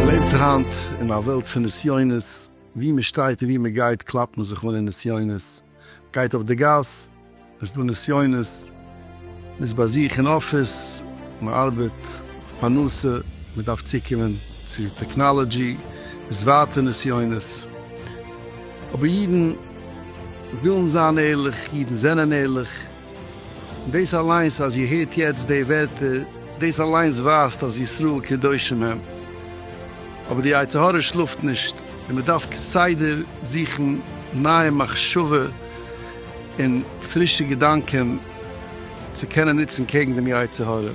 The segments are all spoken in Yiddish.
מ'לעבט היינט אין א וועלט פון נסיונות, ווי מ'שטייט און ווי מ'גייט קלאפט מען זיך אן אין נסיונות, גייט אויף די גאס, עס איז דא נסיונות. מ'איז ביי זיך אין אפיס, מ'ארבעט אויף פרנסה, מ'דארף צוקומען צו טעקנאלעדזשי, איז ווייטער נסיונות. אבער אידן ווילן זיין ערליך, אידן זענען ערליך. און דאס אליינס אז איר הערט יעצט די ווערטער, דאס אליינס ווייזט אז ישראל קדושים הם. אבער די יצר הרע שלאפט נישט, און מ'דארף כסדר זוכן נייע מחשבה, און פרישע געדאנקען צו קענען נוצן קעגן דעם יצר הרע.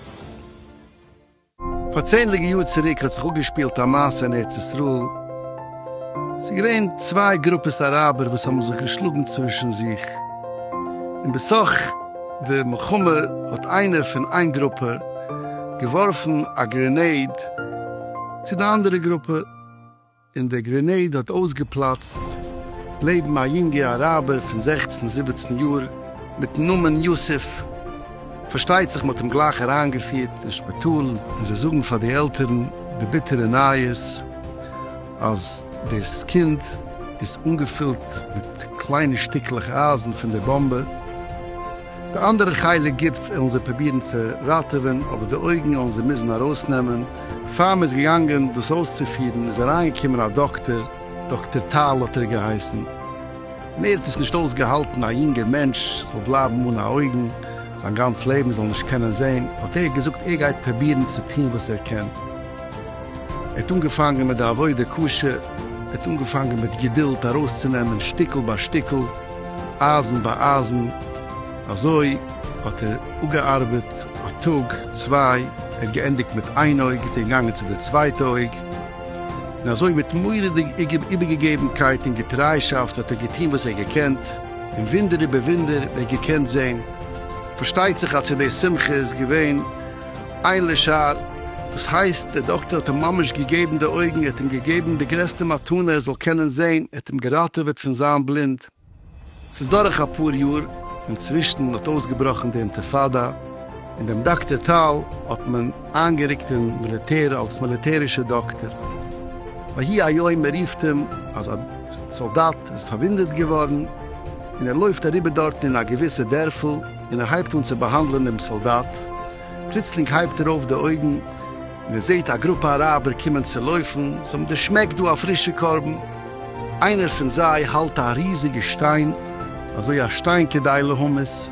פאר צענדליגע יאר צוריק האט זיך אפגעשפילט א מעשה אין ארץ ישראל, עס איז געווען צוויי גרופעס אראבער וואס האבן זיך געשלאגן צווישן זיך, און בסך די מלחמה האט איינער פון איין גרופע געווארפן א גרענעיד צו די אנדערע גרופע, און דער גרענעיד האט אויסגעפלאצט לעבן א יונגע אראבער פון זעכצן זיבעצן יאר מיטן נאמען יוסף, פארשטייט זיך מ'האט אים גלייך אריינגעפירט אין שפיטאל און זיי זאגן פאר די עלטערן די ביטערע נייעס אז דאס קינד איז אנגעפילט מיט קליינע שטיקלעך אייזן פון די באמבע. די אנדערע חלק גוף עלן זיי פראבירן צו ראטעווען, אבער די אויגן עלן זיי מוזן ארויסנעמען. פאר מ'איז געגאנגען דאס אויסצופירן איז אריינגעקומען א דאקטער, דאקטער טל האט ער געהייסן, און ער האט עס נישט אויסגעהאלטן א יונגער מענטש זאל בלייבן אן א אויגן זיין גאנץ לעבן, זאל נישט קענען זען, האט ער געזאגט ער גייט פראבירן צו טון וואס ער קען. ער האט אנגעפאנגען מיט די עבודה קשה, ער האט אנגעפאנגען מיט געדולד ארויסצונעמען שטיקל ביי שטיקל, אײַזן בײַ אײַזן, אַזױ האָט ער אָפּגעאַרבעט אַ טאָג, צװײ, ער האָט געענדיקט מיט אײן אױג, איז ער געגאַנגען צו דער צװײטע אױג, און אַזױ מיט מוראדיק איבערגעגעבנקײט און געטרײַשאַפֿט האָט ער געטאָן װאָס ער האָט געקענט, און װוּנדער איבער װוּנדער האָט ער געקענט זען. פֿאַרשטײט זיך, אַז צו דער שׂימחה איז געװען. איין לשער, וואס הייסט דער דאקטער האט אים ממש געגעבן די אויגן, ער האט אים געגעבן די גרעסטע מתנה ער זאל קענען זען, ער האט אים געראטעוועט פון זיין בלינד. ס'איז דורך אפאר יאר, אינצווישן האט אויסגעבראכן די אינטיפאדא, און דעם דאקטער טל האט מען איינגערוקט אין מיליטער אלס מיליטערישע דאקטער. ויהי היום מען רופט אים אז א סאלדאט איז פארוואונדעט געווארן, און ער לויפט אריבער דארטן אין א געוויסע דערפל, און ער הייבט אן צו באהאנדלען דעם סאלדאט, פלוצלינג הייבט ער אויף די אויגן און ער זעהט א גרופע אראבער קומען צו לויפן, זיי האבן דערשמעקט דא א פרישע קרבן, איינער פון זיי האלט א ריזיגע שטיין, אזוי א שטיין כדי להמית,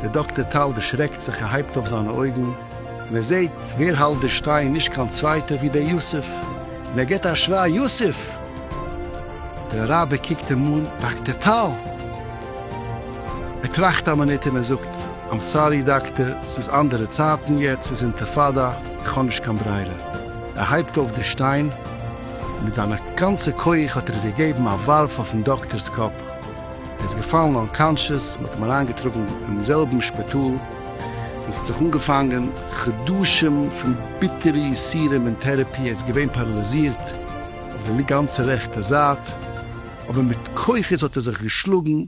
דער דאקטער טל דערשרעקט זיך ער הייבט אויף זיינע אויגן און ער זעהט ווער האלט די שטיין נישט קיין צווייטער ווי דער יוסף, און ער גיבט א שריי יוסף! דער אראבער קוקט אים אן, דאקטער טל! ער טראכט א מינוט און ער זאגט, איים סארי דאקטער, ס'איז אנדערע צייטן יעצט, ס'איז אינטיפאדא, איך האב נישט קיין ברירה. ער הייבט אויף די שטיין, און מיט זיינע גאנצע כח האט ער עס געגעבן א ווארף אויפן דאקטער'ס קאפ, ער איז געפאלן אנקאנשעס, מ'האט אים אריינגעטראגן אינעם זעלבן שפיטאל, און ס'האט זיך אנגעפאנגען חדשים פון ביטערע יסורים און טערעפי, ער איז געווען פאראליזירט אויף די גאנצע רעכטע זייט. אבער מיט כוחות האט ער זיך געשלאגן,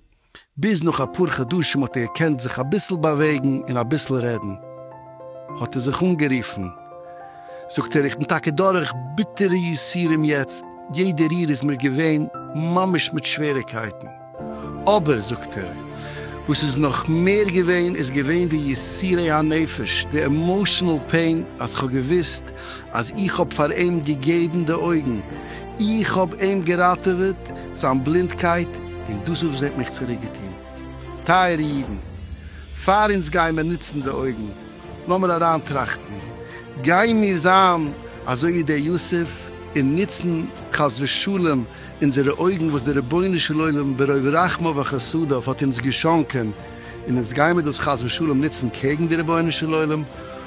ביז נאך אפאר חדשים האט ער געקענט זיך אביסל באוועגן און אביסל רעדן, האט ער זיך אנגערופן, זאגט ער, איך בין טאקע דורך ביטערע יסורים יעצט, יעדע ריר איז מיר געווען ממש מיט שוועריקייטן, אבער, זאגט ער, וואס איז נאך מער געווען איז געווען די יסורי הנפש, די עמאושענעל פעין, אז כ'האב געוואוסט אז איך האב פאר אים געגעבן די אויגן, איך האב אים געראטעוועט זיין בלינדקייט און דאס איז וואס ער האט מיך צוריק געטון. טייערע אידן, פאר אונז גייען באנוצן די אויגן, לאמיר אריינטראכטן, גיימיר זיין אזוי ווי דער יוסף און נוצן חס ושלום אונזערע אויגן וואס דער רבונו של עולם ברוב רחמיו וחסדיו האט אונז געשאנקען און אונז גיימיר דאס חס ושלום נוצן קעגן די רבונו של עולם?